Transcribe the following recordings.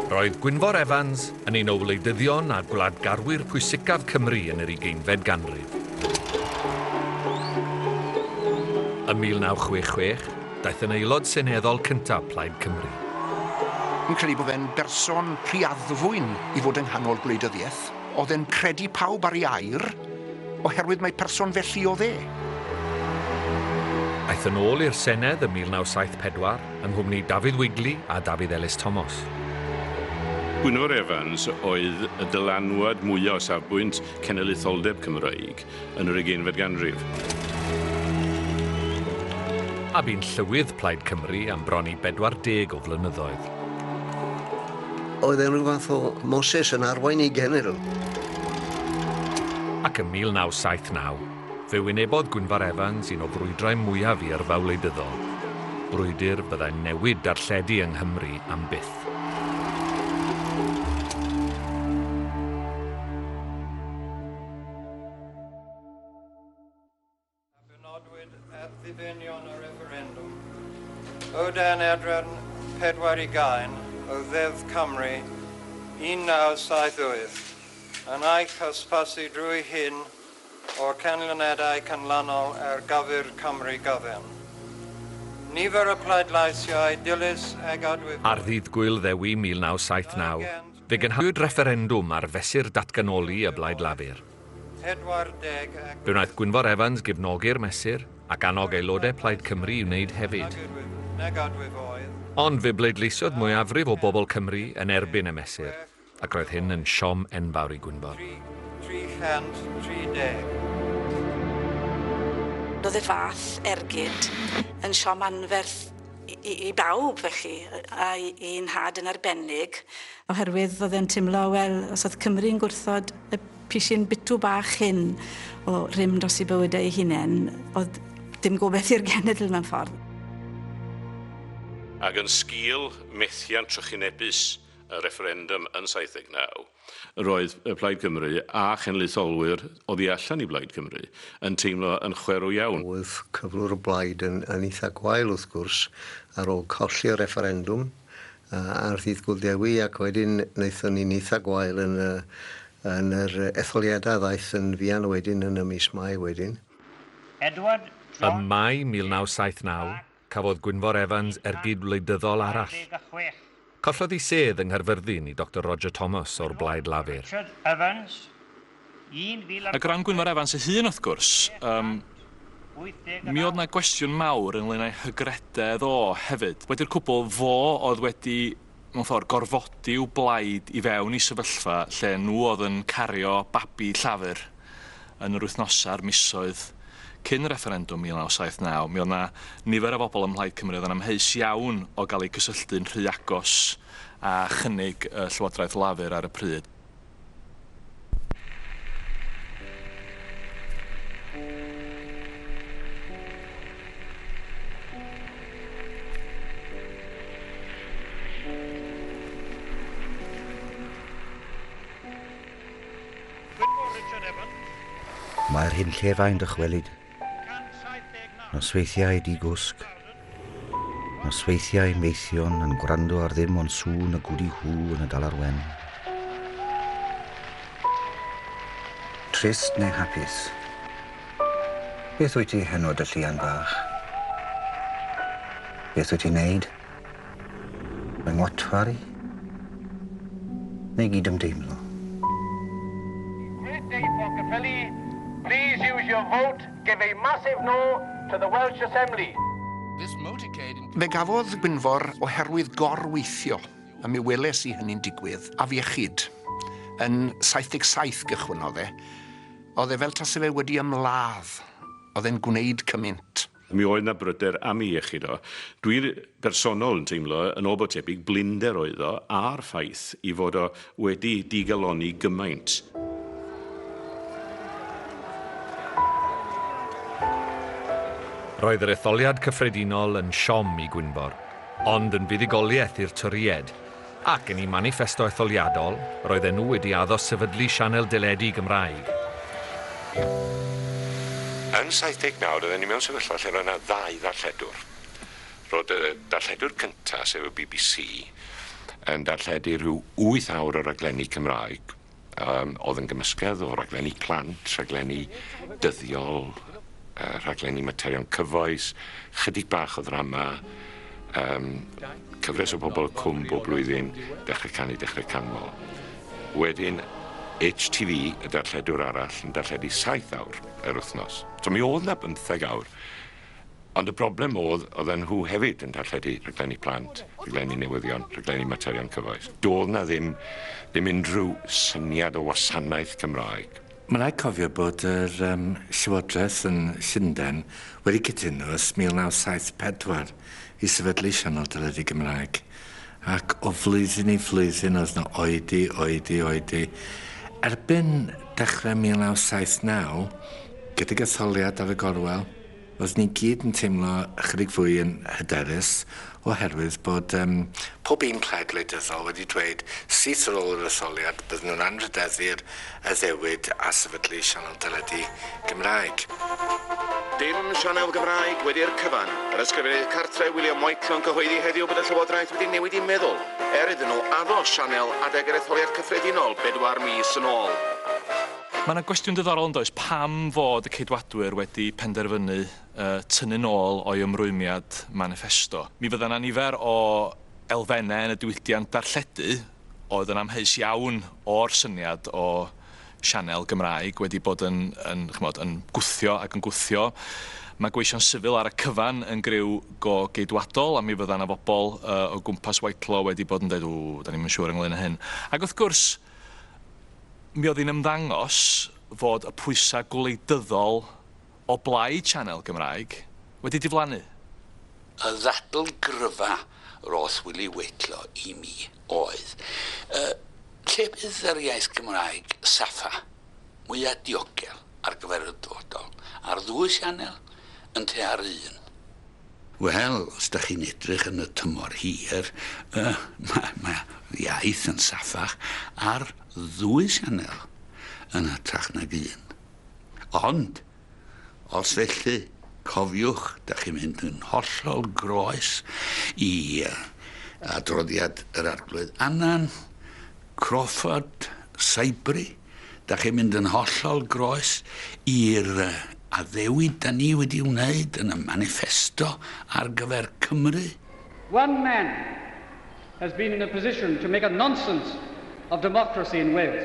Roedd Gwynfor Evans yn un o wleidyddion a gwladgarwyr pwysicaf Cymru yn yr ugeinfed ganrif. Ym 1966, daeth yn Aelod Seneddol cyntaf Plaid Cymru. Fi'n credu bod fe'n berson rhy addfwyn i fod yng nghanol gwleidyddiaeth. Oedd e'n credu pawb ar ei air. Oherwydd mai person felly oedd e. Aeth yn ôl i'r Senedd ym 1974 yng nghwmni Dafydd Wigley a Dafydd Elis Tomos. Gwynfor Evans oedd y dylanwad mwya' o safbwynt cenedlaetholdeb Cymreig yn yr ugeinfed ganrif. A bu'n Llywydd Plaid Cymru am bron i 40 o flynyddoedd. Oedd e'n rhyw fath o Moses yn arwain ei genedl. Ac ym 1979, fe wynebodd Gwynfor Evans un o brwydrau mwyaf i yrfa wleidyddol, brwydr byddai'n newid darlledu yng Nghymru am byth. a benodwyd er ddibenion y refferendwm, o dan adran 4 i gaen o Ddeddf Cymru 1978, yn eich hysbysu drwy hyn o'r canlyniadau canlynol ar gyfer Cymru gyfan. Nifer y pleidleisiau dilys ag adwywyd. Ar ddydd Gŵyl Ddewi 1979, Fe gynhaliwyd refferendwm ar fesur datganoli y Blaid Lafur. Fe wnaeth Gwynfor Evans gefnogi'r mesur, ac annog aelodau Plaid Cymru i wneud hefyd. Ond fe bleidleisiodd mwyafrif o bobl Cymru yn erbyn y mesur, ac roedd hyn yn siom enfawr i Gwynfor. Roedd y fath ergyd yn siom anferth i, i bawb felly, a i nhad yn arbennig. Oherwydd oedd e'n timlo, wel, os oedd Cymru'n gwrthod y pisin bitw bach hyn o rym dros i bywydau ei hunain, oedd dim gobeith i'r genedl mewn ffordd. Ac yn sgil methiant trychinebus y refferendum yn 79, Roedd Plaid Cymru a chenedlaetholwyr oddi allan i Blaid Cymru yn teimlo yn chwerw iawn. Roedd cyflwr y blaid yn eitha' gwael wrth gwrs ar ôl colli y refferendwm ar ddydd Gŵyl Dewi ac wedyn naethon ni'n eitha' gwael yn y yn yr etholiadau a ddaeth yn fuan wedyn yn y mis Mai wedyn. Edward John Ym Mai 1979, Cafodd Gwynfor Evans ergyd wleidyddol arall. Collodd ei sedd yng Nghaerfyrddin i Doctor Roger Thomas o'r Blaid Lafur. Ac o ran Gwynfor Evans ei hun wrth gwrs, yym, mi oedd 'na gwestiwn mawr ynglŷn â'i hygrededd o hefyd. Wedi'r cwbl, fo oedd wedi mewn ffordd, gorfodi i'w blaid i fewn i sefyllfa lle nhw oedd yn cario babi Llafur yn yr wythnosau a'r misoedd cyn y refferendwm 1979. Mi oedd 'na nifer o bobl ym Mhlaid Cymru oedd yn amheus iawn o gael eu cysylltu'n rhy agos â chynnig y Llywodraeth Lafur ar y pryd. Mae'r hunllefau'n dychwelyd Nosweithiau di-gwsg, nosweithiau maethion yn gwrando ar ddim ond sŵn y gwdi hw yn y Dalar Wen. Trist neu hapus? Beth wyt ti heno dy Llian fach? Beth wyt ti'n neud? Mae Motwari neu gydymdeimlo. Great day for Caerffili, please use your vote, give a massive no to the Welsh Assembly. Fe gafodd Gwynfor oherwydd gor-weithio, a mi weles i hynny'n digwydd, afiechyd. Yn 77 gychwynnodd e. Oedd e fel tase fe wedi ymladd. Oedd e'n gwneud cymynt. Mi oedd 'na bryder am ei iechyd o. Dwi bersonol yn teimlo yn ôl bod tebyg blinder oedd o a'r ffaith ei fod o wedi digalonni gymaint. Roedd yr etholiad cyffredinol yn siom i Gwynfor, ond yn fuddugoliaeth i'r Torïaid. Ac yn eu maniffesto etholiadol, roedden nhw wedi addo sefydlu sianel deledu Gymraeg. Yn 79 roedden ni mewn sefyllfa lle roedd yna ddau ddarlledwr. Roedd y darlledwr cyntaf, sef y bbc, yn darlledu rhyw wyth awr o raglenni Cymraeg, Yym, oedd yn gymysgedd o raglenni plant, rhaglenni dyddiol, yy rhaglenni materion cyfoes, chydig bach o ddrama, yym, cyfres o bobl cwm bob blwyddyn, Dechrau Canu, Dechrau Canmol. Wedyn, HTV, y darlledwr arall, yn darlledu saith awr yr wythnos. So mi oedd 'na bymtheg awr. Ond y broblem oedd, oedden nhw hefyd yn darlledu rhaglenni plant, rhaglenni newyddion, rhaglenni materion cyfoes. Doedd 'na ddim, ddim unrhyw syniad o wasanaeth Cymraeg. Mae'n rhaid cofio bod yr um, Llywodraeth yn Llundain wedi cytuno ers 1974 i sefydlu sianel deledu Gymraeg, ac o flwyddyn i flwyddyn oedd 'na oedi, oedi, oedi. Erbyn dechrau 1979, gydag etholiad ar y gorwel, Roeddwn ni gyd yn teimlo ychydig fwy yn hyderus oherwydd bod um, pob un plaid wleidyddol wedi dweud syth ar ôl yr etholiad bydden nhw'n anrhydeddu'r addewid a sefydlu sianel deledu Gymraeg. Dim sianel Gymraeg wedi'r cyfan. Yr Ysgrifennydd Cartref William White yn cyhoeddi heddiw bod y Llywodraeth wedi newid i meddwl er iddyn nhw addo sianel adeg yr etholiad cyffredinol bedwar mis yn ôl. Mae 'na gwestiwn diddorol yn does, pam fod y Ceidwadwyr wedi penderfynu tynnu'n ôl o'i ymrwymiad maniffesto? Mi fydda 'na nifer o elfennau yn y diwydiant darlledu oedd yn amheus iawn o'r syniad o sianel Gymraeg wedi bod yn, yn, ch'mod, yn gwthio ac yn gwthio. Mae gweision sifil ar y cyfan yn griw go Geidwadol, a mi fydda 'na fobol o gwmpas Whitelaw wedi bod yn deud, 'W, 'da ni'm yn siŵr ynglŷn â hyn. Ac wrth gwrs, Mi oedd hi'n ymddangos fod y pwysau gwleidyddol o blaid sianel Gymraeg wedi diflannu. Y ddadl gryfa roedd Wili Weitlo i mi oedd, 'Lle bydd yr iaith Gymraeg, Safa? mwya' diogel ar gyfer y dyfodol, ar ddwy sianel yn lle ar un. Wel, os dach chi'n edrych yn y tymor hir, mae'r iaith yn saffach ar ddwy sianel yn hytrach nag un. Ond, Os felly, cofiwch, dych chi'n mynd yn hollol groes i adroddiad yr Arglwydd Annan, Crawford, Saibri, dych chi'n mynd yn hollol groes i'r addewid da ni wedi wneud yn y maniffesto ar gyfer Cymru. One man has been in a position to make a nonsense of democracy in Wales.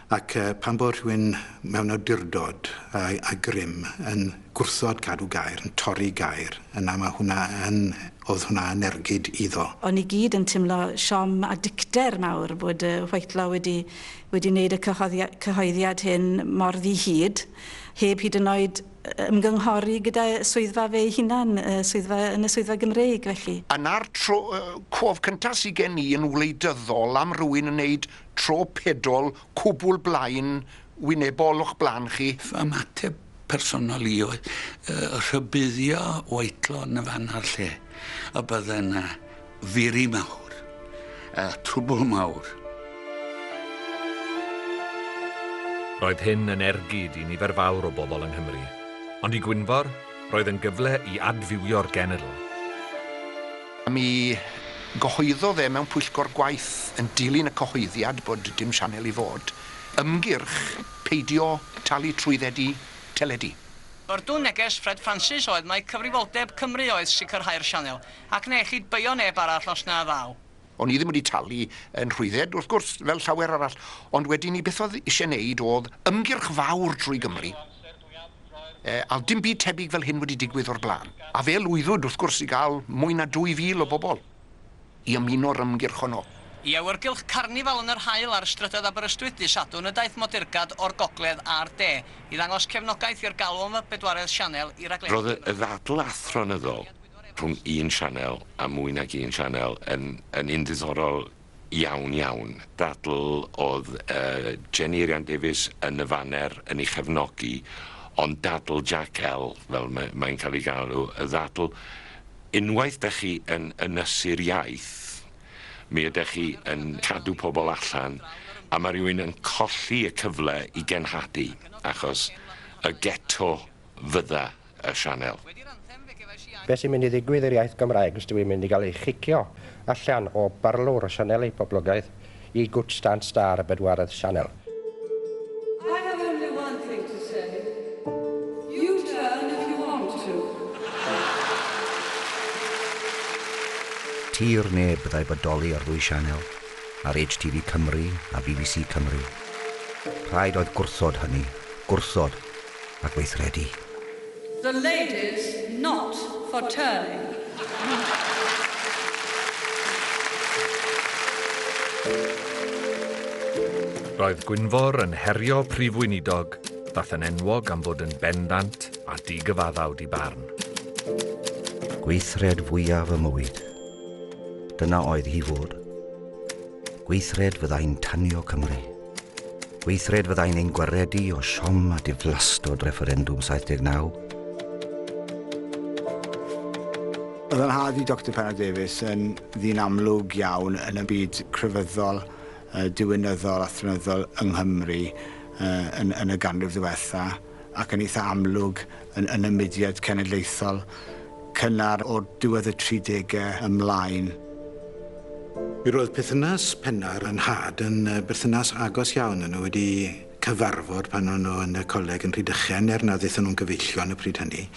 Ac pan fo rhywun mewn awdurdod a a grym yn gwrthod cadw gair, yn torri gair, yna ma' hwnna yn, o'dd hwnna yn ergyd iddo. O'n ni gyd yn timlo siom a dicter mawr bod yy Whitelaw wedi wedi neud y cyhoddi- cyhoeddiad hyn mor ddi-hid, heb hyd yn oed yy ymgynghori gyda swyddfa fe'i hunan, y swyddfa yn y swyddfa Gymreig felly. Yna'r tro yy cof cynta sy gen i yn wleidyddol am rywun yn neud tro pedol cwbl blaen wynebol o'ch blaen chi. Fy ymateb personol i oedd rhybuddio Whitelaw yn y fan a'r lle y bydde yna firi mawr a trwbl mawr. Roedd hyn yn ergyd i nifer fawr o bobl yng Nghymru, ond i Gwynfor, roedd yn gyfle i adfywio'r genedl. Mi gyhoeddodd e mewn pwyllgor gwaith yn dilyn y cyhoeddiad bod dim sianel i fod, ymgyrch peidio talu trwyddedu teledu. Byrdwn neges Fred Francis oedd mai cyfrifoldeb Cymru oedd sicrhau'r sianel, ac na ellid beio neb arall os na ddaw. O'n i ddim wedi talu 'y nhrwydded, wrth gwrs, fel llawer arall, ond wedyn 'ny beth oedd isie 'neud o'dd ymgyrch fawr drwy Gymru, Yy, al dim byd tebyg fel hyn wedi digwydd o'r blaen. A fe lwyddwyd, wrth gwrs, i gael mwy na 2,000 o bobl i ymuno'r ymgyrch honno. I awyrgylch carnifal yn yr haul ar strydoedd Aberystwyth dydd Sadwrn y daeth modeyrgad o'r gogledd a'r de i ddangos cefnogaeth i'r galw am y bedwaredd sianel i raglenni Roedd y ddadl athronyddol rhwng un sianel a mwy nag un sianel yn yn un ddiddorol Iawn, iawn. Dadl oedd Jenny Eirian Davies yn y faner yn ei chefnogi, ond dadl Jack L, fel mae'n cael ei galw, y ddadl, unwaith dych chi yn ynysu'r iaith, mi ydych chi yn cadw pobl allan, a mae rhywun yn colli y cyfle i genhadu, achos y geto fydda y sianel. Beth sy'n mynd i ddigwydd i'r iaith Gymraeg os dyw hi'n mynd i gael ei chicio allan o barlwr y sianeli poblogaidd i Good Stand Star y bedwaredd sianel? I have only one thing to say, U-turn if you want to. Tir neb fyddai bodoli ar ddwy sianel, ar HTV Cymru a bbc Cymru. Rhaid oedd gwrthod hynny. Gwrthod. a gweithredu. The ladies not for turning. Roedd Gwynfor yn herio Prif Weinidog ddaeth yn enwog am fod yn bendant a digyfaddawd i barn. Gweithred fwyaf y mywyd. Dyna oedd hi fod. Gweithred fyddai'n tanio Cymru. Gweithred fyddai'n ein gwaredu o siom a diflastod refferendwm 79. Oedd yn hard i Doctor Penna Davies yn ddyn amlwg iawn yn y byd crefyddol, diwinyddol a thrynyddol yng Nghymru yn y ganrif ddiwetha'. ac yn eitha amlwg yn yn y mudiad cenedlaethol cynnar o'r diwedd y tri degau ymlaen. Mi roedd perthynas Pennar a Nhad yn berthynas agos iawn, o'n nhw wedi cyfarfod pan o'n nhw yn y coleg yn Rhydychen er nad aethon nhw'n gyfeillion y pryd hynny,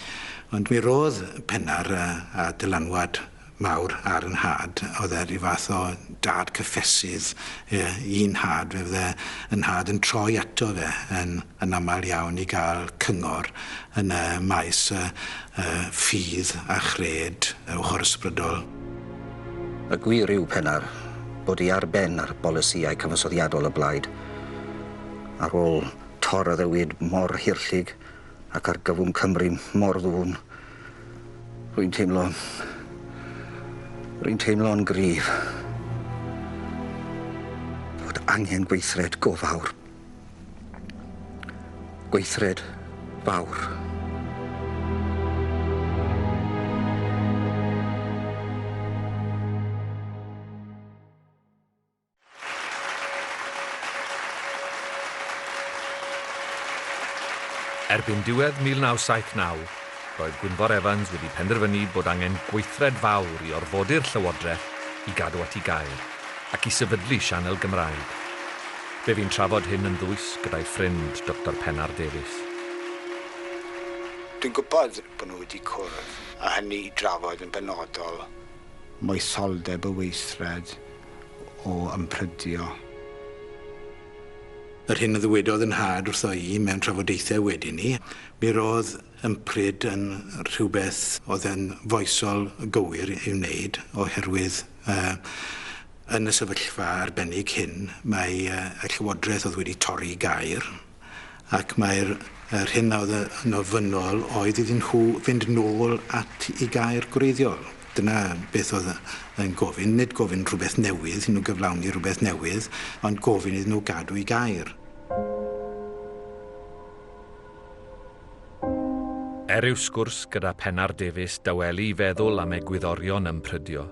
ond mi roedd Pennar a dylanwad mawr ar y nhad, oedd e ryw fath o dad cyffesydd i nhad fe, fydde y nhad yn troi ato fe yn yn aml iawn i gael cyngor yn y maes y y ffydd a chred y ochor ysbrydol. Y gwir yw, penna'r, bod hi ar ben ar bolisïau cyfansoddiadol y Blaid. Ar ôl tor addewid mor hirllug ac argyfwng Cymru mor ddwfn, Rwy'n teimlo... Rwy'n teimlo'n gryf fod angen gweithred go fawr. Gweithred fawr. Erbyn diwedd 1979, roedd Gwynfor Evans wedi penderfynu bod angen gweithred fawr i orfodi'r Llywodraeth i gadw at ei gair, ac i sefydlu sianel Gymraeg. Fe fu'n trafod hyn yn ddwys gyda'i ffrind, Doctor Pennar Davies. Dwi'n gwybod bod nhw wedi cwrdd, a hynny i drafod yn benodol moesoldeb y weithred, o ymprydio. Yr hyn a ddywedodd yn nhad wrtho i mewn trafodaethau wedyn 'ny, mi ro'dd ympryd yn rhywbeth o'dd yn foesol gywir i'w wneud oherwydd yy yn y sefyllfa arbennig hyn mae yy y Llywodraeth o'dd wedi torri gair ac mae'r yr hyn a oedd yn ofynnol oedd iddyn nhw fynd nôl at i gair gwreiddiol. Dyna beth oedd yn gofyn, nid gofyn rhywbeth newydd, iddyn nhw gyflawni rhywbeth newydd, ond gofyn iddyn nhw gadw i gair. Er i'w sgwrs gyda Pennar Davies dawelu i feddwl am egwyddorion ym Prydio,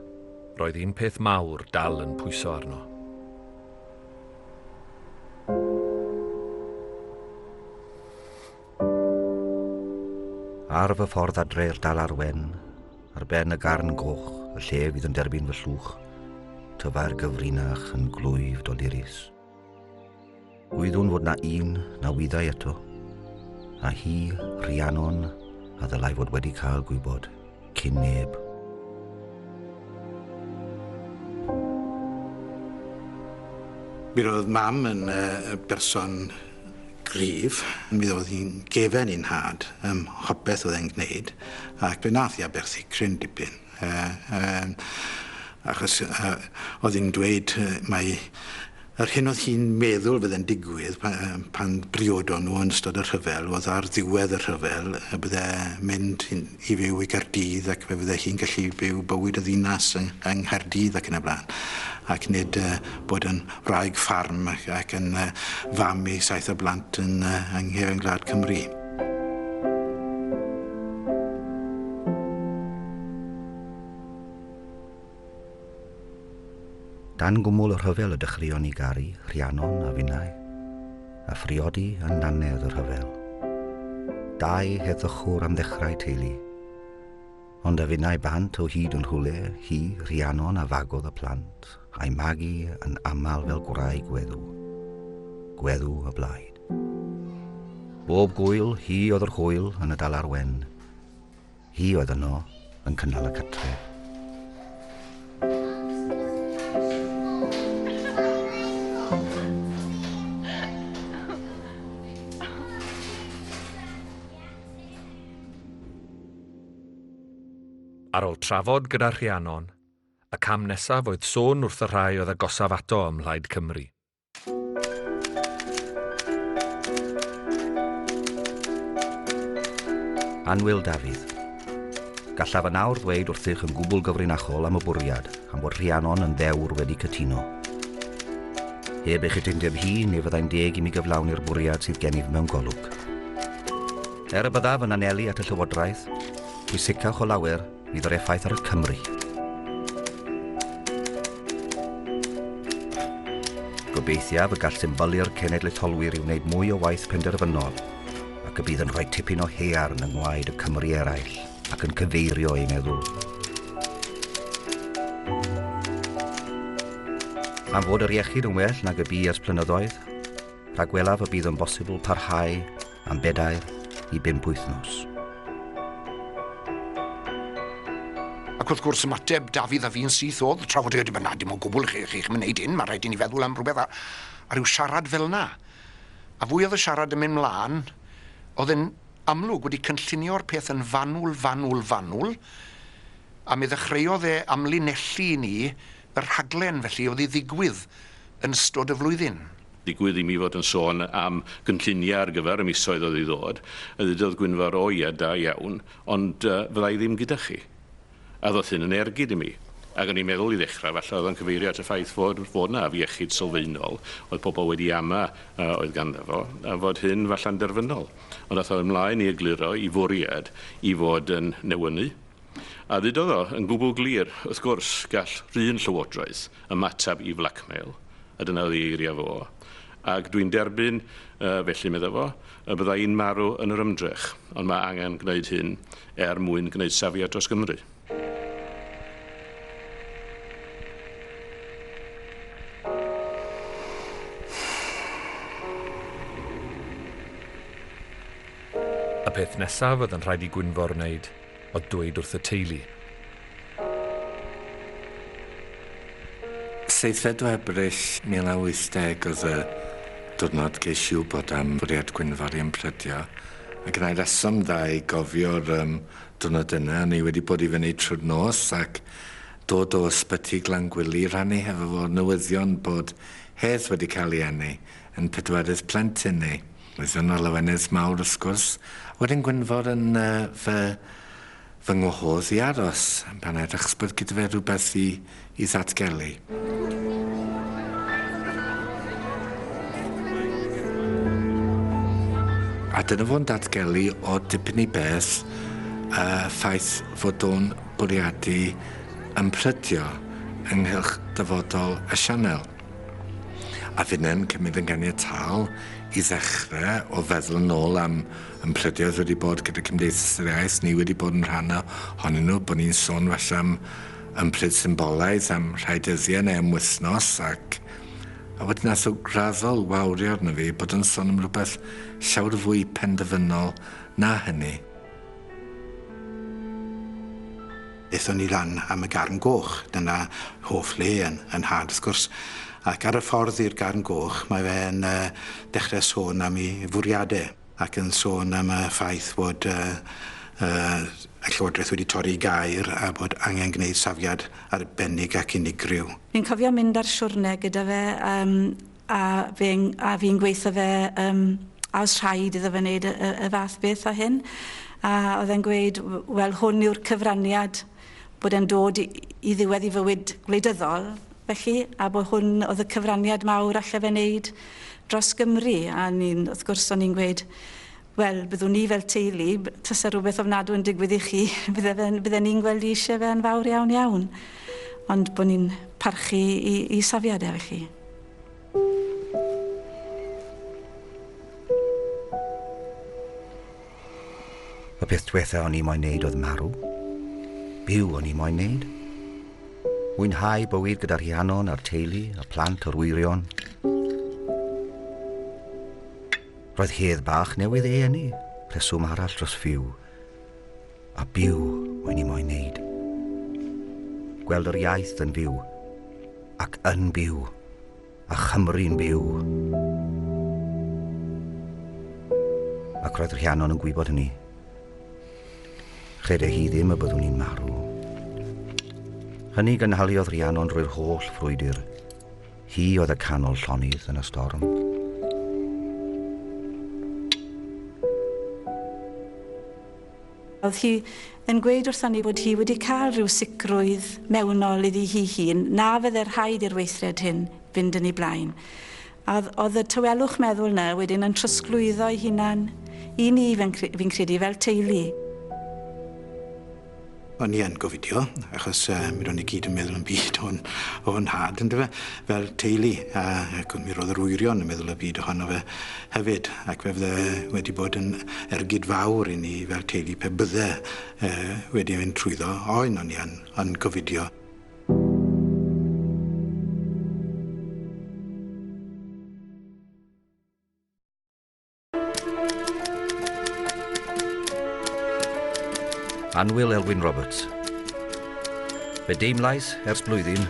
roedd un peth mawr dal yn pwyso arno. Ar fy ffordd adre i'r dal ar wen, ar ben y garn goch, y lle fydd yn derbyn fy llwch, tyfa'r gyfrinach yn glwyf dolurus. Gwyddwn fod na un na wyddai eto, a hi, Rhiannon, a ddylai fod wedi cael gwybod. cyn neb. Mi roedd mam yn uh, berson grif. Mi oedd hi'n gefen i'n had ym hopeth oedd e'n gwneud ac fe nath i aberthu cryn dipyn. Uh, uh, achos uh, oedd hi'n dweud uh, mae Yr hyn oedd hi'n meddwl fydde'n digwydd pan briodon nhw yn ystod y rhyfel oedd ar ddiwedd y rhyfel y bydde mynd i fyw i Gaerdydd ac fe fydde hi'n gallu byw bywyd y ddinas yng Nghaerdydd ac yn y blaen ac nid bod yn wraig ffarm ac yn fam i saith o blant yn nghefn gwlad Cymru. Dan gwmwl y rhyfel y dechreuon ni garu Rhiannon a finnau, a phriodi yn nannedd y rhyfel. Dau heddychwr am ddechrau teulu. Ond a finnau bant o hyd yn rhywle, hi, Rhiannon a fagodd y plant, a'i magu yn aml fel gwraig gweddw. Gweddw y blaid. Bob gwyl, hi oedd yr hwyl yn y dalar wen. Hi oedd yno, yn cynnal y cartref. Ar ôl trafod gyda Rhiannon, y cam nesaf oedd sôn wrth y rhai oedd agosaf ato ym Mhlaid Cymru. Annwyl Dafydd. Gallaf yn awr ddweud wrthych yn gwbl gyfrinachol am y bwriad, am fod Rhiannon yn ddewr wedi cytuno. Heb ei chytundeb hi, ni fyddai'n deg i mi gyflawni'r bwriad sydd gennyf mewn golwg. Er y byddaf yn anelu at y Llywodraeth, pwysicach o lawer, Nid o'r effaith ar y Cymry. Gobeithiaf y gall symbylu'r cenedlaetholwyr i wneud mwy o waith penderfynol ac y bydd yn rhoi tipyn o haearn yng ngwaed y Cymry eraill ac yn cyfeirio eu meddwl am fod yr iechyd yn well nag y bu ers plynyddoedd, rhagwelaf y bydd yn bosibl parhau am bedair i bump wythnos. Ac wrth gwrs ymateb Dafydd a fi'n syth oedd trafod y dim na dim o gwbl chi, chi'ch mynd wneud hyn, mae rhaid i ni feddwl am rhywbeth a, a rhyw siarad fel yna. A fwy oedd y siarad yn mynd mlaen, oedd yn amlwg wedi cynllunio'r peth yn fanwl, fanwl, fanwl, a mi ddechreuodd e amlinellu i ni y rhaglen felly oedd i ddigwydd yn ystod y flwyddyn. Digwydd i mi fod yn sôn am gynlluniau ar gyfer y misoedd oedd i ddod, a ddudodd Gwynfor, O ia, da iawn, ond fydda i ddim gyda chi. A ddoth hyn yn ergyd i mi. Ac o'n i'n meddwl, i ddechrau, falle oedd o'n cyfeirio at y ffaith fod fod 'na afiechyd sylfaenol oedd pobl wedi ama oedd ganddo fo, a fod hyn falle'n derfynol. Ond ath o ymlaen i egluro ei fwriad i fod yn newynu A ddudodd o yn gwbl glir, wrth gwrs, gall 'run llywodraeth ymateb i flacmeil, a dyna oedd ei eiriau fo, ac dwi'n derbyn, felly, medda fo, y bydda i'n marw yn yr ymdrech, ond mae angen gwneud hyn er mwyn gwneud safiad dros Gymru. Y peth nesaf oedd yn rhaid i Gwynfor wneud. o dweud wrth y teulu. Seithfed o Ebrill 1980 oedd y diwrnod ges i wybod am fwriad Gwynfor i ymprydio, a gennai reswm dda i gofio'r yym diwrnod yna, o'n i wedi bod i fyny trwy'r nos ac dod o Ysbyty Glangwili i rannu hefo fo'r newyddion bod Hedd wedi cael ei eni yn pedwerydd plentyn ni. Roedd yna lawenydd mawr wrth gwrs, a wedyn Gwynfor yn fy fy ngwahodd i aros pan edrychs bod gyda fe rhywbeth i i ddatgelu. A dyna fo'n datgelu o dipyn i beth y ffaith fod o'n bwriadu ymprydio ynghylch dyfodol y sianel. A finne'n cymryd yn ganiataol i ddechrau o feddwl yn ôl am ymplydioedd wedi bod gyda Cymdeithas yr Iaith, ni wedi bod yn rhan ohonyn nhw, bod ni'n sôn falle am ymplyd symbolaidd am rhai dyddiau neu am wythnos ac a wedyn nath o graddol wawrio arno fi bod yn sôn am rhywbeth llawer fwy penderfynol na hynny. Aethon ni lan am y Garn Goch, dyna hoff le yn yn nhad wrth gwrs, ac ar y ffordd i'r Garn Goch mae fe'n yy dechre sôn am 'i fwriade ac yn sôn am y ffaith fod yy yy y Llywodraeth wedi torri gair a bod angen gneud safiad arbennig ac unigryw. Fi'n cofio mynd ar siwrne gyda fe yym A fi'n a fi'n gweitho fe yym a o's rhaid iddo fe wneud y y y fath beth â hyn a o'dd e'n gweud w- wel hwn yw'r cyfraniad bod e'n dod i i ddiwedd 'i fywyd gwleidyddol felly a bo' hwn o'dd y cyfraniad mawr alle fe neud dros Gymru a o'n i'n wrth gwrs o'n i'n gweud Wel, byddwn ni fel teulu, tase rhywbeth ofnadw yn digwydd i chi, bydde fe'n, bydde ni'n gweld i eisiau fe yn fawr iawn iawn. Ond bod ni'n parchu i, i safiad efo chi. Y peth diwetha o'n i moyn neud oedd marw. Byw o'n i moyn neud. Mwynhau bywyd gyda Rhiannon a'r teulu, y plant, yr wyrion. Roedd hedd bach newydd ei eni, rheswm arall dros fyw, a byw wy'n i moyn neud. Gweld yr iaith yn fyw, ac yn byw, a Chymru'n byw. Ac roedd Rhiannon yn gwybod hynny. Credau hi ddim y byddwn i'n marw. Hynny gynhaliodd Rhiannon drwy'r holl frwydr, Hi oedd y canol llonydd yn y storm. Oedd hi yn gweud wrthon ni bod hi wedi cael rhyw sicrwydd mewnol iddi hi hun na fydde rhaid i'r weithred hyn fynd yn ei blaen. A oedd y tywelwch meddwl na wedyn yn trosglwyddo ei hunan i ni, fi'n credu, fel teulu. O'n i yn gofidio achos yy mi ro'n i gyd yn meddwl am byd o'n o'n nhad yndyfe? Fel teulu a ac mi ro'dd yr wyrion yn meddwl y byd ohono fe hefyd ac fe fydde wedi bod yn ergyd fawr i ni fel teulu pe bydde yy wedi mynd trwyddo oen o'n i yn yn gofidio. Anwyl Elwyn Roberts. Fe deimlais ers blwyddyn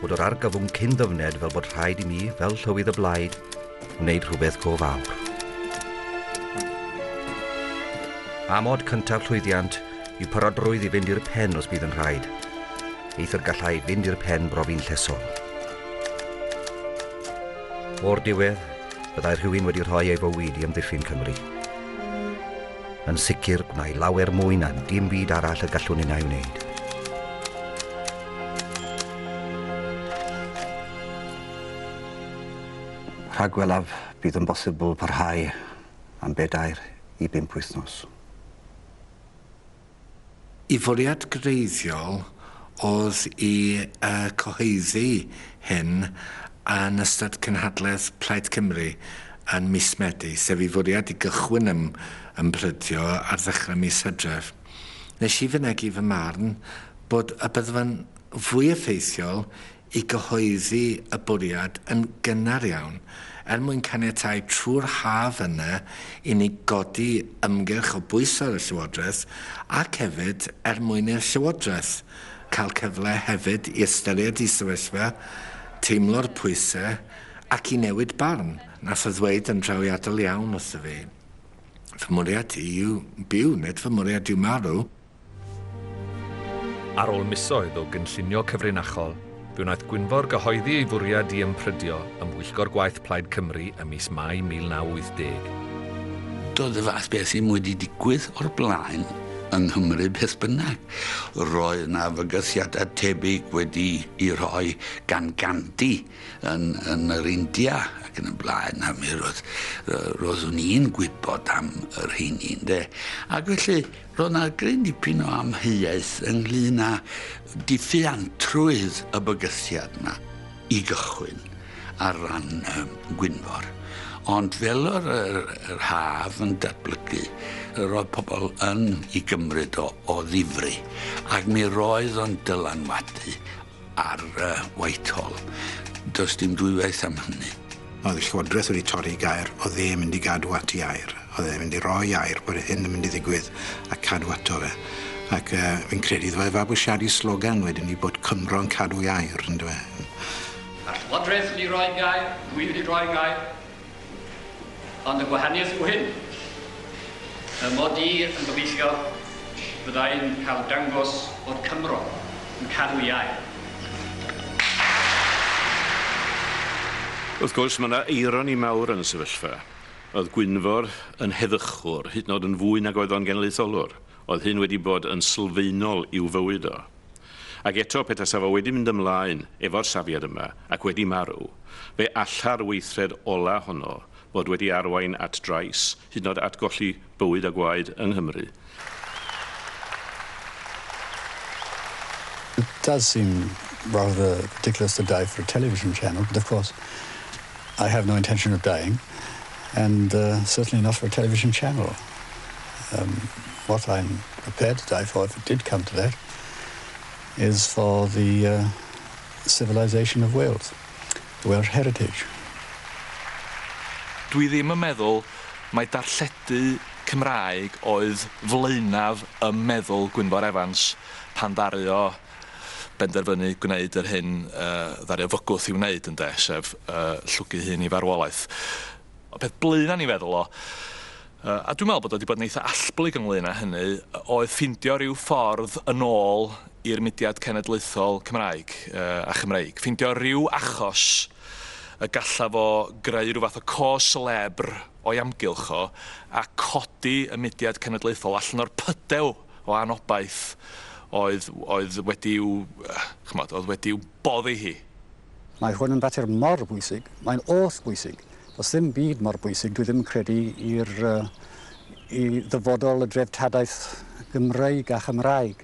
bod yr argyfwng cyn ddyfned fel bod rhaid i mi, fel llywydd y blaid, wneud rhywbeth go fawr. Amod cyntaf llwyddiant yw parodrwydd i fynd i'r pen os bydd yn rhaid. Eithr gallai fynd i'r pen brofi'n llesol. O'r diwedd, Byddai rhywun wedi rhoi ei fywyd i amddiffyn Cymru. Yn sicr, gwna i lawer mwy na dim byd arall y gallwn un ei wneud. Rhagwelaf bydd yn bosibl parhau am bedair i bump wythnos. Y fwriad greiddiol oedd i y cyhoeddi hyn yn ystod cynhadledd Plaid Cymru yn mis Medi, sef ei fwriad i gychwyn ym Mhrydio ar ddechrau mis Hydref. Nes i fynegi fy marn bod y byddfa'n fwy effeithiol i gyhoeddi y bwriad yn gynnar iawn er mwyn caniatáu trwy'r haf yna i ni godi ymgyrch o bwyso ar y Llywodraeth ac hefyd er mwyn i'r Llywodraeth cael cyfle hefyd i ystyried ei sefyllfa, teimlo'r pwysau ac i newid barn. Nath o ddweud yn drawiadol iawn wrtho fi, Fy mwriad i yw byw, nid fy mwriad yw marw. Ar ôl misoedd o gynllunio cyfrinachol, fe wnaeth Gwynfor gyhoeddi ei fwriad i ymprydio ym mhwyllgor gwaith Plaid Cymru ym mis Mai 1980. Doedd y fath beth ddim wedi digwydd o'r blaen yng Nghymru beth bynnag. Roedd 'na fygythiadau tebyg wedi'u rhoi gan Gandhi yn yn yr India ac yn y blaen, a mi roedd- roeddwn i'n gwybod am y rheiny, ynde? Ac felly, Roedd 'na gryn dipyn o amheuaeth ynglŷn â diffuantrwydd y bygythiad 'ma i gychwyn ar ran um, Gwynfor. Ond fel yr, yr, yr haf yn datblygu, roedd pobl yn ei gymryd o, o ddifri, ac mi roedd o'n dylanwadu ar Whitehall. Does dim dwywaith am hynny. Oedd y Llywodraeth wedi torri gair, oedd e mynd i gadw at i air. Oedd e mynd i roi air bod hyn yn mynd i ddigwydd a cadw ato fe. Ac uh, fi'n credu ddweud fe fabwysiadu slogan wedyn ni bod Cymro yn cadw i air, yn dweud. A'r Llywodraeth wedi roi gair, dwi wedi roi gair, Ond y gwahaniaeth yw hyn, fy mod i yn gobeithio fydda i'n cael dangos bod Cymro yn cadw iau. Wrth gwrs, mae yna eironi mawr yn y sefyllfa. Oedd Gwynfor yn heddychwr, hyd yn oed yn fwy nag oedd o'n genedlaetholwr. Oedd hyn wedi bod yn sylfaenol i'w fywyd o. Ac eto, petasaf o wedi mynd ymlaen efo'r safiad yma ac wedi marw, fe alla'r weithred ola' honno fod wedi arwain at drais, hyd yn o'd at golli bywyd a gwaed yng Nghymru. It does seem rather ridiculous to die for a television channel, but of course I have no intention of dying, and certainly not for a television channel. Um, what I'm prepared to die for if it did come to that is for the uh, civilisation of Wales, the Welsh heritage. Dwi ddim yn meddwl mai darlledu Cymraeg oedd flaenaf ym meddwl Gwynfor Evans pan ddaru o benderfynu gwneud yr hyn uh, ddaru o fygwth i wneud ynde, sef uh, llwgu hun i farwolaeth. Y peth blaena o'n i'n feddwl o, a dwi'n meddwl bod o 'di bod yn eitha allblyg ynglŷn â hynny, oedd ffindio rhyw ffordd yn ôl i'r mudiad cenedlaethol Cymraeg a Chymreig. Ffindio rhyw achos y gallaf o greu rhyw fath o cos celebr o'i amgylch o, a codi y mudiad cenedlaethol allan o'r pydew o anobaith oedd wedi i'w, ch'mod, oedd wedi i'w boddi hi. Mae hwn yn fater mor bwysig, mae'n oll bwysig. Does ddim byd mor bwysig, dwi ddim yn credu, i'r, i ddyfodol y dreftadaeth Gymreig a Chymraeg.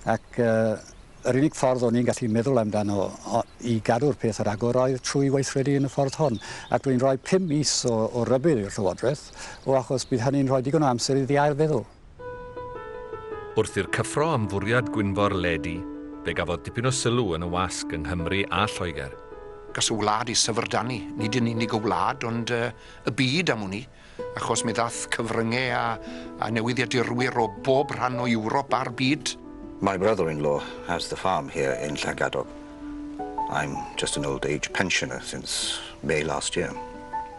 Ac yr unig ffordd o'n i'n gallu meddwl amdano i gadw'r peth ar agor oedd trwy weithredu yn y ffordd hon. Ac dwi'n rhoi pum mis o, o rybudd i'r Llywodraeth, o achos bydd hynny'n rhoi digon o amser iddi ail feddwl. Wrth i'r cyffro am fwriad Gwynfor ledu, fe gafodd dipyn o sylw yn y wasg yng Nghymru a Lloegr. Gall y wlad ei syfrdanu, nid yn unig y wlad ond y byd am wn i, achos mi ddaeth cyfrynge a a newyddiadurwyr o bob rhan o Ewrop a'r byd. My brother-in-law has the farm here in Llangadog. I'm just an old age pensioner since May last year.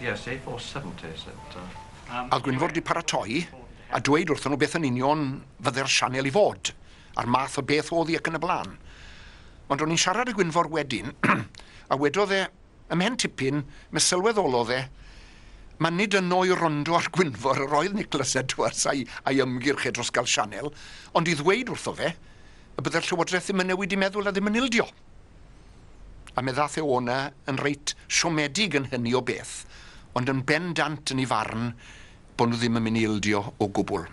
Yes, a four seventy is it? Uh... A Gwynfor di paratoi a dweud wrthyn nhw beth yn union fydde'r sianel i fod, a'r math o beth oedd hi ac yn y blaen. Ond o'n i'n siarad â Gwynfor wedyn, a wedodd e, ymhen tipyn, me sylweddolodd e, mae nid yno i rondo ar Gwynfor yr oedd Nicholas Edwards a'i, a'i ymgyrch e dros gael sianel, ond i ddweud wrtho fe y bydde'r Llywodraeth ddim yn newid i meddwl a ddim yn ildio. A mi ddath e o'na yn reit siomedig yn hynny o beth, ond yn bendant yn ei farn bod nhw ddim yn mynd i ildio o gwbl.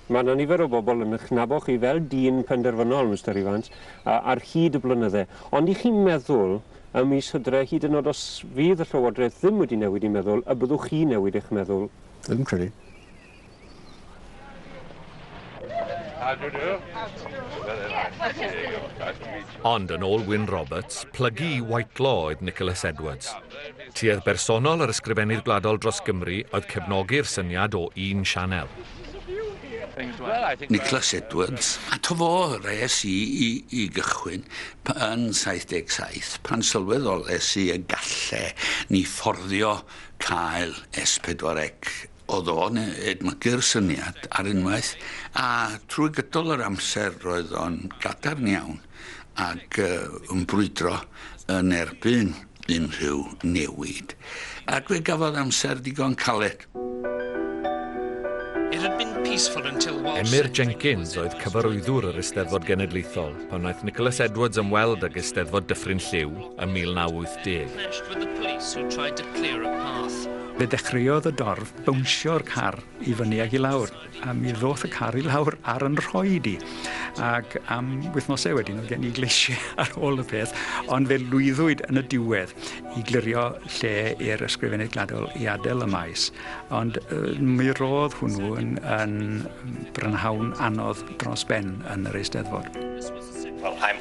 Mae yna nifer o bobl yn eich nabod chi fel dyn penderfynol, Mister Evans, ar hyd y blynydde, ond i chi'n meddwl ym mis Hydre, hyd yn oed os fydd y Llywodraeth ddim wedi newid ei meddwl, y byddwch chi'n newid eich meddwl? Dwi'm yn credu. How do you do? Very nice to see you. Nice to meet you. Ond yn ôl Wyn Roberts, plygu i Whitelaw oedd Nicholas Edwards. Tuedd bersonol yr Ysgrifennydd Gwladol dros Gymru oedd cefnogi'r syniad o un sianel. Nicholas Edwards, ato fo res i, i, i gychwyn yn 77, pan sylweddol es i y galle ni fforddio cael S4C Oedd o'n edmygu'r syniad ar unwaith, a trwy gydol yr amser roedd o'n gadarn iawn ac yn brwydro yn erbyn unrhyw newid, ac fe gafodd amser ddigon caled. Emyr Jenkins oedd cyfarwyddwr yr Eisteddfod Genedlaethol pan wnaeth Nicholas Edwards ymweld ag Eisteddfod Dyffryn Lliw ym 1980. Fe ddechreuodd y dorf bownsio'r car i fyny ac i lawr, a mi ddoth y car i lawr ar yn rhoed i. Ac am wythnosau wedyn oedd gen i gleisiau ar ôl y peth, ond fe lwyddwyd yn y diwedd i glirio lle i'r ysgrifennydd gladol i adael y maes. Ond mi roedd hwnnw yn, yn brynhawn anodd dros ben yn yr Eisteddfod. Well, I'm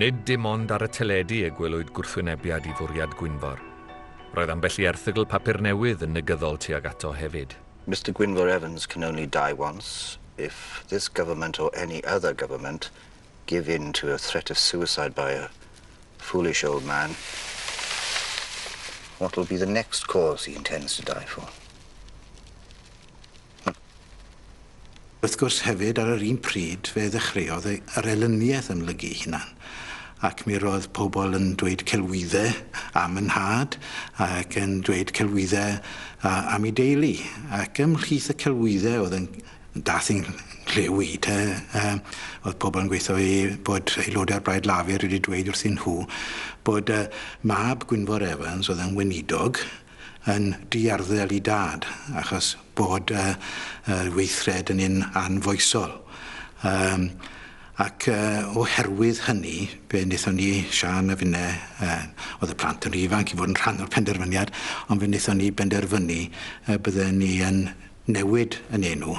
Nid dim ond ar y teledu y gwelwyd gwrthwynebiad i fwriad Gwynfor. Roedd ambell i erthygl papur newydd yn negyddol tuag ato hefyd. Mister Gwynfor Evans can only die once, if this government or any other government give in to a threat of suicide by a foolish old man, what will be the next cause he intends to die for? Wrth gwrs hefyd, ar yr un pryd, fe ddechreuodd y- yr elyniaeth ymlygu'i hunan, ac mi roedd pobl yn dweud celwydde am y nhad, ac yn dweud celwydde a- am ei deulu. Ac ymhlith y celwydde oedd yn dath i'n nghlyw i, te, yy, oedd pobl yn gweithio i bod aelodau o'r Blaid Lafur wedi dweud wrthyn nhw bod y mab Gwynfor Evans oedd yn weinidog, yn diarddel i dad achos bod y weithred yn un anfoesol. Um, ac uh, oherwydd hynny, fe wnaethon ni, Sian a finne, uh, oedd y plant yn rhy ifanc i fod yn rhan o'r penderfyniad, ond fe wnaethon ni benderfynu uh, bydden ni yn newid yn enw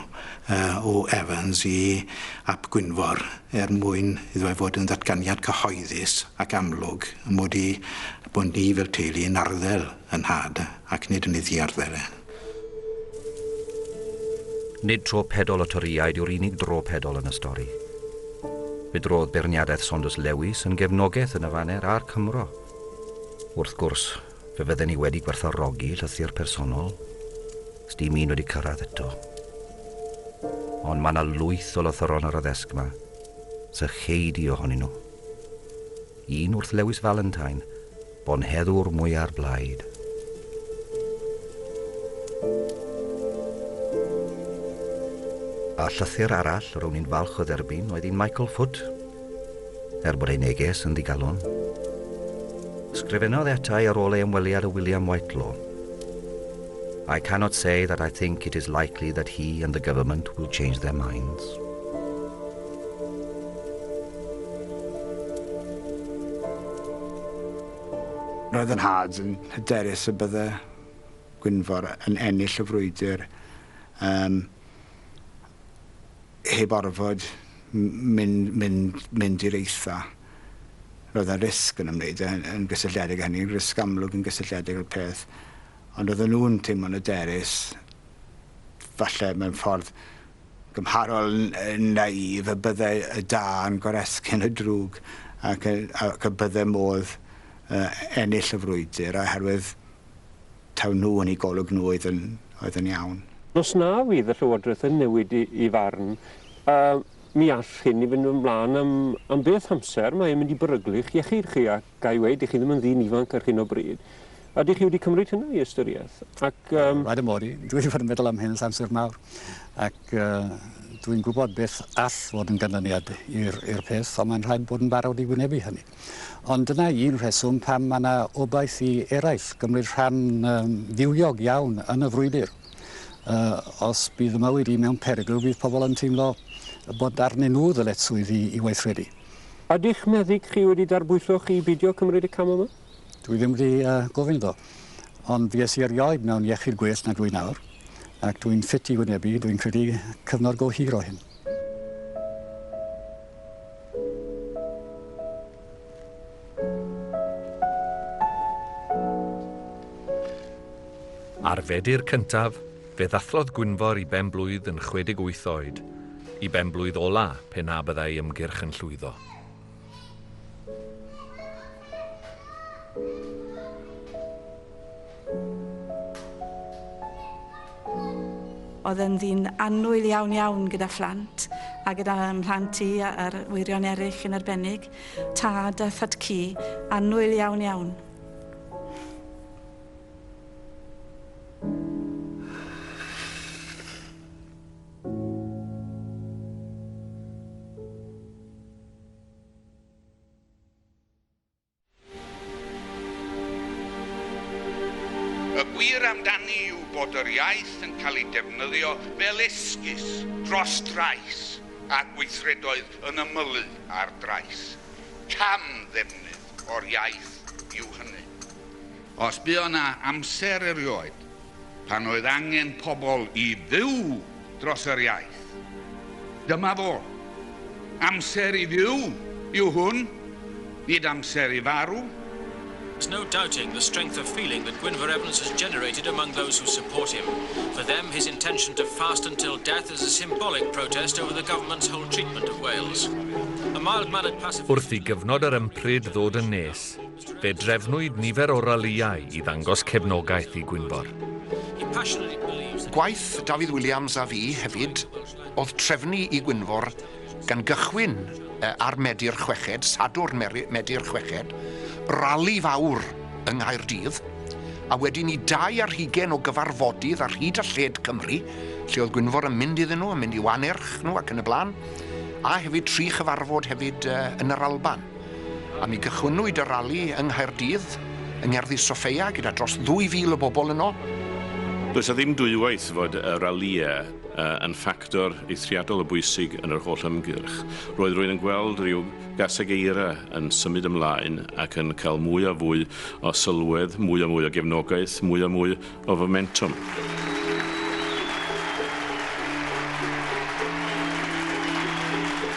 o Evans i Ap Gwynfor er mwyn iddo fe fod yn ddatganiad cyhoeddus ac amlwg mod i, bod ni fel teulu yn arddel yn nhad ac nid yn ei ddiarddel e. Nid tro pedol y Torïaid yw'r unig dro pedol yn y stori. Fe drodd beirniadaeth Saunders Lewis yn gefnogeth yn y faner a'r Cymro. Wrth gwrs, Fe fydden ni wedi gwerthfawrogi llythyr personol, os dim un wedi cyrraedd eto. Ond mae yna lwyth o lythyron ar y ddesg yma, sy cheidi ohonyn nhw. Un wrth Lewis Valentine, bonheddwr mwyar blaid. A llythyr arall ro'n i'n falch o dderbyn oedd un Michael Foot, Er bod ei neges yn ddigalon, ysgrifennodd ata i ar ôl ei ymweliad â William Whitelaw, I cannot say that I think it is likely that he and the government will change their minds. Roedd yn had yn hyderus y bydde Gwynfor yn ennill y frwydr. Um, Heb orfod mynd i'r eitha', roedd 'na risg yn ymwneud â hynny, yn gysylltiedig â hynny, risg amlwg yn gysylltiedig â'r peth, ond oedden nhw'n teimlo'n hyderus, falle mewn ffordd gymharol naïf, y bydde y da yn goresgyn y drwg ac y bydde modd ennill y frwydr, oherwydd taw nhw yn eu golwg nhw oedd yn oedd yn iawn. Os na fydd y Llywodraeth yn newid i i farn, yy, mi all hyn i fynd yn flaen am am beth amser, mae e'n mynd i beryglu'ch iechyd chi ac ga'i weud, dych chi ddim yn ddyn ifanc ar hyn o bryd. A dych chi wedi cymryd hynna i ystyriaeth? Ac yym... Rhaid ym mod i. Dwi wedi bod yn meddwl am hyn ers amser mawr ac yy dwi'n gwybod beth all fod yn ganlyniad i'r i'r peth ond mae'n rhaid bod yn barod i wynebu hynny. Ond dyna un rheswm pam mae yna obaith i eraill gymryd rhan ddiwiog iawn yn y frwydr. Os bydd y mywyd i mewn perygl, bydd pobl yn teimlo bod arnyn nhw ddyletswydd i weithredu. Ydych meddyg chi wedi darbwyllo chi i beidio cymryd y cam yma? Dwi ddim wedi gofyn iddo. Ond fues i erioed mewn iechyd gwell na dwi nawr, ac dwi'n ffit i wynebu, dwi'n credu, cyfnod go hir o hyn. Ar Fedi'r cyntaf, fe ddathlodd Gwynfor i ben-blwydd yn 68 oed, i ben-blwydd ola pe na byddai ei ymgyrch yn llwyddo. Oedd yn ddyn annwyl iawn iawn gyda phlant a gyda mhlant i a arwyddion eraill yn arbennig. Tad a thad cu annwyl iawn iawn. Y gwir amdani yw bod yr iaith yn cael ei defnyddio fel esgus dros drais a gweithredoedd yn ymylu ar drais. Cam-ddefnydd o'r iaith yw hynny. Os buo 'na amser erioed pan oedd angen pobl i fyw dros yr iaith. Dyma fo. Amser i fyw yw hwn, nid amser i farw. There's no doubting the strength of feeling that Gwynfor Evans has generated among those who support him. For them, his intention to fast until death is a symbolic protest over the government's whole treatment of Wales. A mild-mannered pacifist... Wrth i gyfnod yr ympryd ddod yn nes, Fe drefnwyd nifer o ralïau i ddangos cefnogaeth i Gwynfor. Gwaith Dafydd Williams a fi hefyd oedd trefnu i Gwynfor gan gychwyn ar Medi'r Chweched, Sadwrn Medi'r Chweched, rali fawr yng Nghaerdydd, a wedyn i dau ar hugain o gyfarfodydd ar hyd a lled Cymru, lle oedd Gwynfor yn mynd iddyn nhw, yn mynd i'w anerch nhw ac yn y blaen, a hefyd tri chyfarfod hefyd yn yr Alban. A mi gychwynnwyd y rali yng Nghaerdydd, yng Ngerddi Soffeia, gyda dros 2,000 o bobl yno. Does 'na ddim dwywaith fod y ralïau yn ffactor eithriadol o bwysig yn yr holl ymgyrch. Roedd rwy'n yn gweld rhyw gaseg eira yn symud ymlaen ac yn cael mwy a fwy o sylwedd, mwy a mwy o gefnogaeth, mwy a mwy of Momentum.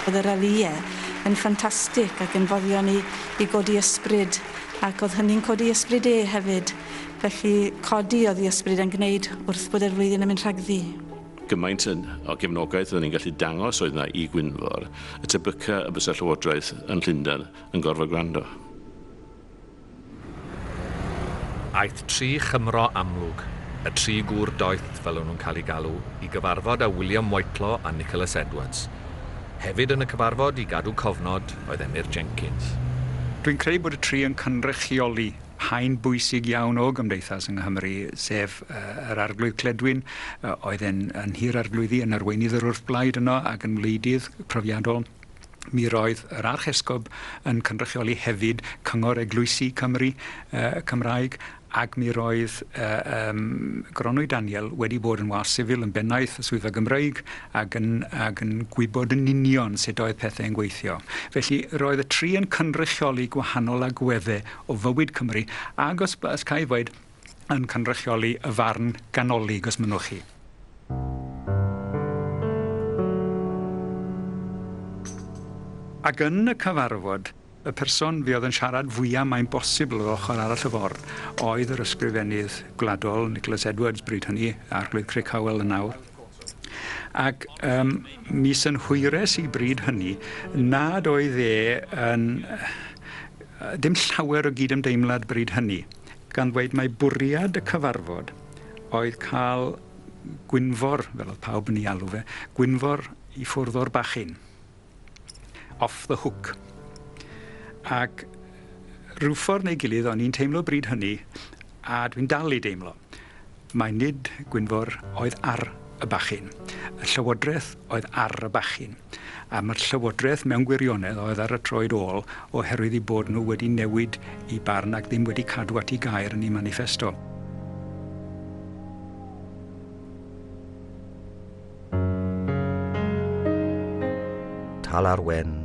Oedd y ralïe yn ffantastig ac yn foddio ni i godi ysbryd ac oedd hynny'n codi ysbryd e hefyd. Felly codi oedd i ysbryd e'n gwneud wrth bod e'r flwyddyn yn mynd rhagddi gymaint o gefnogaeth oedden ni'n gallu dangos oedd yna i Gwynfor, y tebyca y bysa Llywodraeth yn Llundain yn gorfod gwrando. Aeth tri Chymro amlwg, y tri gŵr doeth fel o'n nhw'n cael eu galw, i gyfarfod â William Whitelaw a Nicholas Edwards. Hefyd yn y cyfarfod, i gadw cofnod, oedd Emyr Jenkins. Dwi'n credu bod y tri yn cynrychioli haen bwysig iawn o gymdeithas yng Nghymru, sef yr Arglwydd Cledwyn, oedd yn Nhŷ'r Arglwyddi, yn arweinydd yr wrthblaid yno ac yn wleidydd profiadol, Mi roedd yr Archesgob yn cynrychioli hefyd Cyngor Eglwysi Cymru uh, Cymraeg ac mi roedd uh, um, Gronwy Daniel wedi bod yn was sifil yn bennaeth y swyddfa Gymreig ac yn, ac yn gwybod yn union sut oedd pethau yn gweithio. Felly roedd y tri yn cynrychioli gwahanol agweddau o fywyd Cymru ac os, os cael ei ddweud, yn cynrychioli y farn ganolig, os mynnwch chi. Ac yn y cyfarfod, y person fi oedd yn siarad fwyaf mae'n bosibl o'r ochr arall y ffordd oedd yr ysgrifennydd gwladol Nicholas Edwards bryd hynny, Arglwydd Crick Howell yn awr. Ac um, mi synhwyres i bryd hynny nad oedd e yn... dim llawer o gyd-ymdeimlad bryd hynny. gan ddweud mai bwriad y cyfarfod oedd cael Gwynfor, fel oedd pawb yn ei alw fe, Gwynfor i ffwrdd o'r bachyn, off the hook. Ac rhyw ffordd neu gilydd o'n i'n teimlo bryd hynny, a dwi'n dal i deimlo, Mai nid Gwynfor oedd ar y bachyn. Y Llywodraeth oedd ar y bachyn. A mae'r Llywodraeth mewn gwirionedd oedd ar y troed ôl oherwydd eu bod nhw wedi newid eu barn ac ddim wedi cadw at eu gair yn eu maniffesto. Tal ar Wen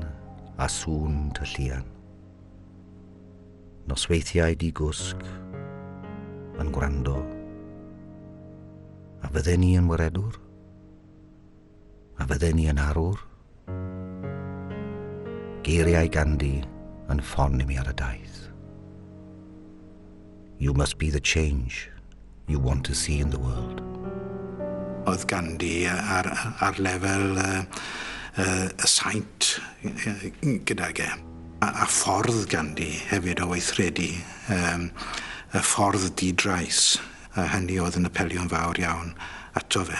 a sŵn tylluan. Nosweithiau di-gwsg, yn gwrando. A fydden ni yn waredwr? A fydden ni yn arwr? Geiriau Gandhi yn ffon i mi ar y daith. You must be the change, you want to see in the world. Oedd ganddi ar, ar lefel y uh, uh, saint gydag e. A, a ffordd ganddi hefyd o weithredu, um, y ffordd didrais, a hynny oedd yn apelio'n fawr iawn ato fe.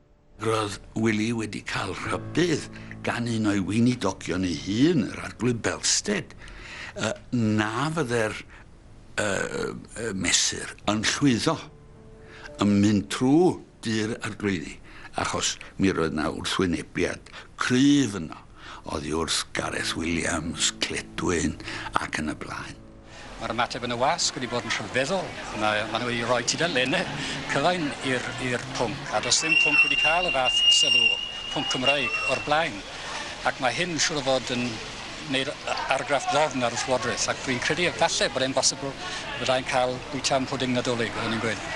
Roedd Wili wedi cael rhybudd gan un o'i weinidogion ei hun, yr Arglwydd Belstead, na fyddai'r mesur yn llwyddo yn mynd trwy dŷ'r arglwyddi, achos mi roedd yna wrthwynebiad cryf yno oddi wrth Gareth Williams, Cledwyn ac yn y blaen. Mae'r ymateb yn y wasg wedi bod yn rhyfeddol. Mae, maen nhw wedi rhoi tudalennau cyfain i'r pwnc, a does dim pwnc wedi cael y fath sylw, pwnc Cymraeg, o'r blaen. Ac mae hyn siŵr o fod yn neu'r argraff ddofn ar y Llywodraeth, ac rwy'n credu efallai bod e'n bosibl fyddai'n cael bwyta am pwding Nadolig, fel o'n i'n gweud.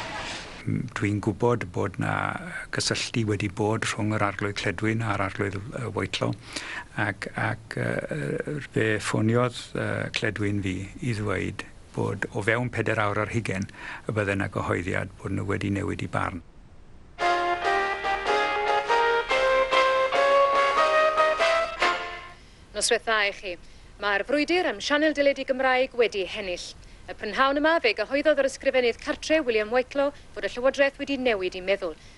Dwi'n gwybod bod 'na gysylltu wedi bod rhwng yr Arglwydd Cledwyn a'r Arglwydd Whitelaw, ac ac yy fe ffoniodd yy cledwyn fi i ddweud bod o fewn peder awr ar hugen y bydde 'na gyhoeddiad bod nhw wedi newid i barn. Noswaith dda i chi. Mae'r frwydr am sianel deledu Gymraeg wedi hennill. Y prynhawn yma fe gyhoeddodd yr Ysgrifennydd Cartre, William Whitelaw, fod y Llywodraeth wedi newid i meddwl.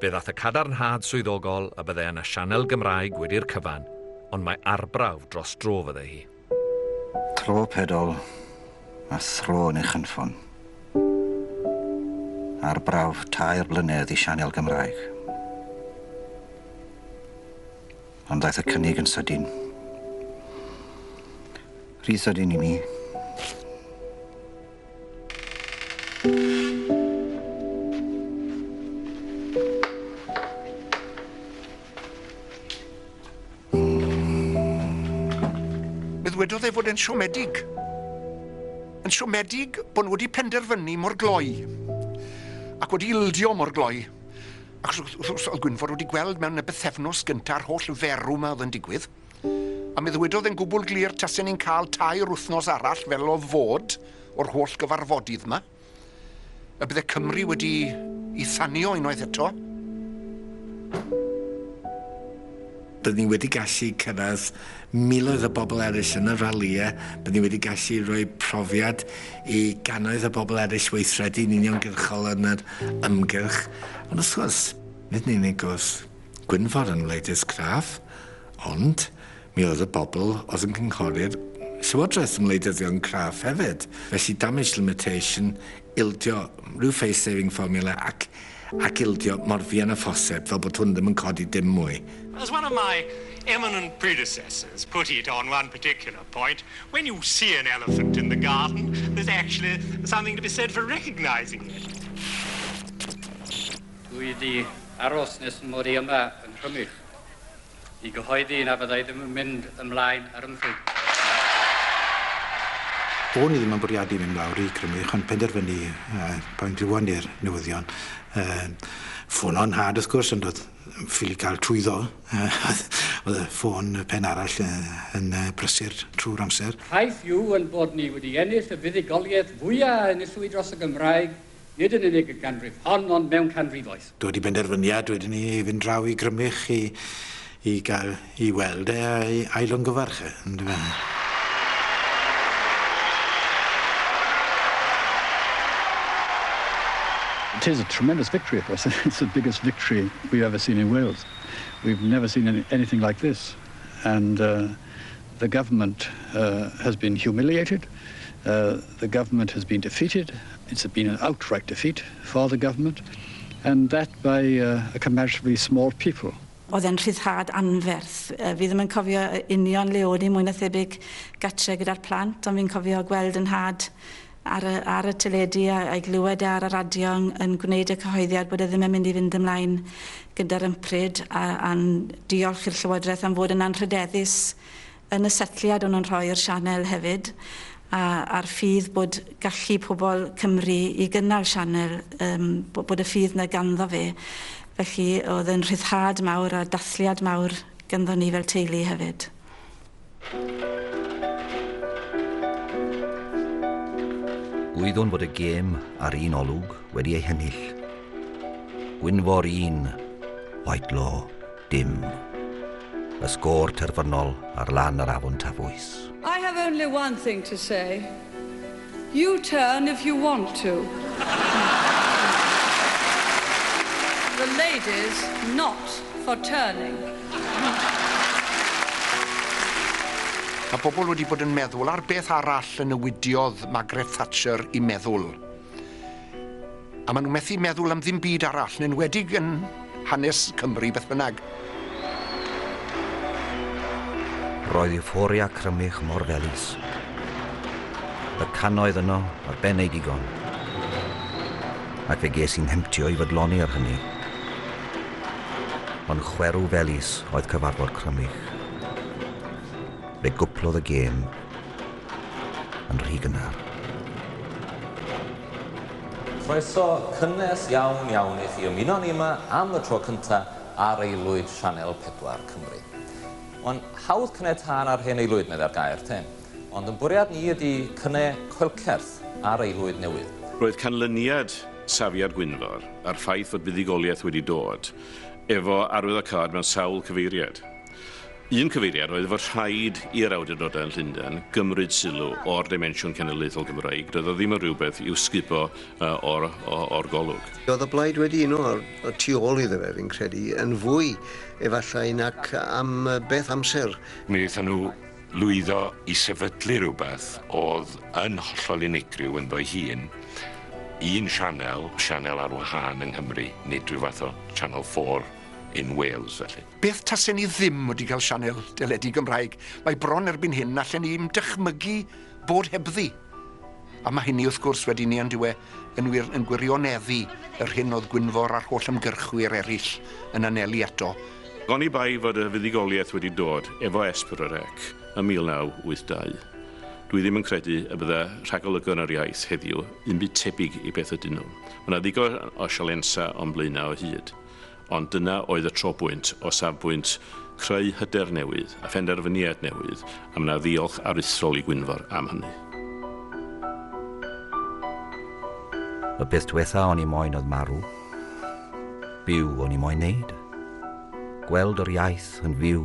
Fe ddaeth y cadarnhad swyddogol y bydde yna sianel Gymraeg wedi'r cyfan, ond mae arbrawf dros dro fydde hi. Tro pedol a thro yn ei chynffon. Arbrawf tair blynedd i sianel Gymraeg. Ond ddaeth y cynnig yn sydyn. Rhy sydyn i mi. ddywedodd e fod e'n siomedig. Yn siomedig bod nhw wedi penderfynu mor gloi ac wedi ildio mor gloi. Ac wrth gwrs, oedd Gwynfor wedi gweld mewn y bythefnos gyntaf a'r holl ferw yma oedd yn digwydd. A mi ddwedodd e'n gwbl glir tasen ni'n cael tair wythnos arall fel o'dd fod o'r holl gyfarfodydd 'ma, y bydde Cymru wedi 'i thanio unwaith eto. Bydden ni wedi gallu cyrraedd miloedd o bobl eraill yn y ralïe, bydden ni wedi gallu rhoi profiad i gannoedd o bobl eraill weithredu'n uniongyrchol yn yr ymgyrch, ond wrth gwrs, nid yn unig wrth Gwynfor yn wleidydd craff, ond mi oedd y bobl oedd yn cynghori'r Llywodraeth yn wleidyddion craff hefyd. Felly damage limitation, ildio rhyw face saving formula ac, ac ildio mor fuan â phosib fel bod hwn ddim yn codi dim mwy. As one of my eminent predecessors put it on one particular point, when you see an elephant in the garden, there's actually something to be said for recognising it. Dw i 'di aros nes fy mod i yma yng Nghrymych i gyhoeddi na fydda i ddim yn mynd ymlaen ar 'y mhryd. O'n i ddim yn bwriadu mynd lawr i Grymych ond penderfynu pan glywon ni'r newyddion yym ffono 'nhad wrth gwrs ond o'dd ffili ca'l trwyddo o'dd y ffôn y pen arall yy yn yy brysur trw'r amser. Ffaith yw 'yn bod ni wedi ennill y fuddugoliaeth fwya' a enillwyd dros y Gymraeg nid yn unig y ganrif hon ond mewn canrifoedd. Dod i benderfyniad wedyn ni i fynd draw i Grymych i i gael i weld e a'i ailongyfarch e, yndyfe? It is a tremendous victory, of course. It's the biggest victory we've ever seen in Wales. We've never seen any, anything like this. And uh, the government uh, has been humiliated. Uh, The government has been defeated, it's been an outright defeat for the government and that by a comparatively small people. Oedd e'n rhyddhad anferth. Fi ddim yn cofio union le o'n i, mwy na thebyg gatre gyda'r plant, ond fi'n cofio gweld yn nhad ar y, ar y teledu a, a'i glywed e ar y radio yn, yn gwneud y cyhoeddiad bod e ddim yn mynd i fynd ymlaen gyda'r ympryd a, a'n diolch i'r Llywodraeth am fod yn anrhydeddus Yn y setliad o'n nhw'n rhoi'r sianel hefyd a a'r ffydd bod gallu pobl Cymru i gynnal sianel yym bo- bod y ffydd 'na ganddo fe felly o'dd yn rhyddhad mawr a dathliad mawr ganddo ni fel teulu hefyd. Gwyddwn fod y gêm a'r un olwg wedi ei hennill. Gwynfor un, Whitelaw. dim. Y sgôr terfynol ar lan yr afon Tafwys. I have only one thing to say. You turn if you want to. The ladies not for turning. Mae pobl wedi bod yn meddwl ar beth arall y newidiodd Margaret Thatcher i meddwl. A maen nhw methu meddwl am ddim byd arall, yn enwedig yn hanes Cymru beth bynnag. Roedd euphoria Crymych mor felys. Y cannoedd yno, ar ben ei digon. Ac fe ges i'n hemptio i fodloni ar hynny. Ond chwerw felys oedd cyfarfod Crymych. Fe gwplodd y gêm yn rhy gynnar. Croeso cynnes iawn iawn i chi ymuno â ni yma am y tro cynta ar Aelwyd Sianel 4 Cymru. Mae'n hawdd cne tân ar hen aelwyd, meddai'r gair, te, ond yn bwriad ni ydi cne coelcerth ar aelwyd newydd. Roedd canlyniad safiad Gwynfor a'r ffaith fod buddugoliaeth wedi dod efo arwyddocâd mewn sawl cyfeiriad. Un cyfeiriad oedd fod rhaid i'r awdurdodau yn Llundain gymryd sylw o'r dimensiwn cenedlaethol Gymraeg, doedd o ddim yn rhywbeth i'w sgubo o'r golwg. Roedd y Blaid wedi uno y tu ôl iddo fe, fi'n credu, yn fwy efallai nac am beth amser. Mi wnaethon nhw lwyddo i sefydlu rhywbeth oedd yn hollol unigryw ynddo'i hun, un sianel, sianel ar wahân yng Nghymru, nid rhyw fath o Channel 4 in Wales felly. Beth tasen ni ddim wedi cael sianel deledu Gymraeg? Mae bron erbyn hyn na allen ni i'm dychmygu bod hebddi. A mae hynny, wrth gwrs, wedi ni ond yw e yn wir yn gwirioneddu yr hyn oedd Gwynfor a'r holl ymgyrchwyr eraill yn anelu ato, Oni bai fod y fuddugoliaeth wedi dod efo S4C ym 1982, dwi ddim yn credu y bydda rhagolygon yr iaith heddiw yn byd tebyg i beth ydyn nhw. Mae 'na ddigon o sialensau o'n blaenau o hyd. Ond dyna oedd y tro bwynt o safbwynt creu hyder newydd a phenderfyniad newydd a mna ddiolch aruthrol i Gwynfor am hynny. Y peth dwetha o'n i moyn oedd marw. Byw o'n i moyn neud. Gweld yr iaith yn fyw.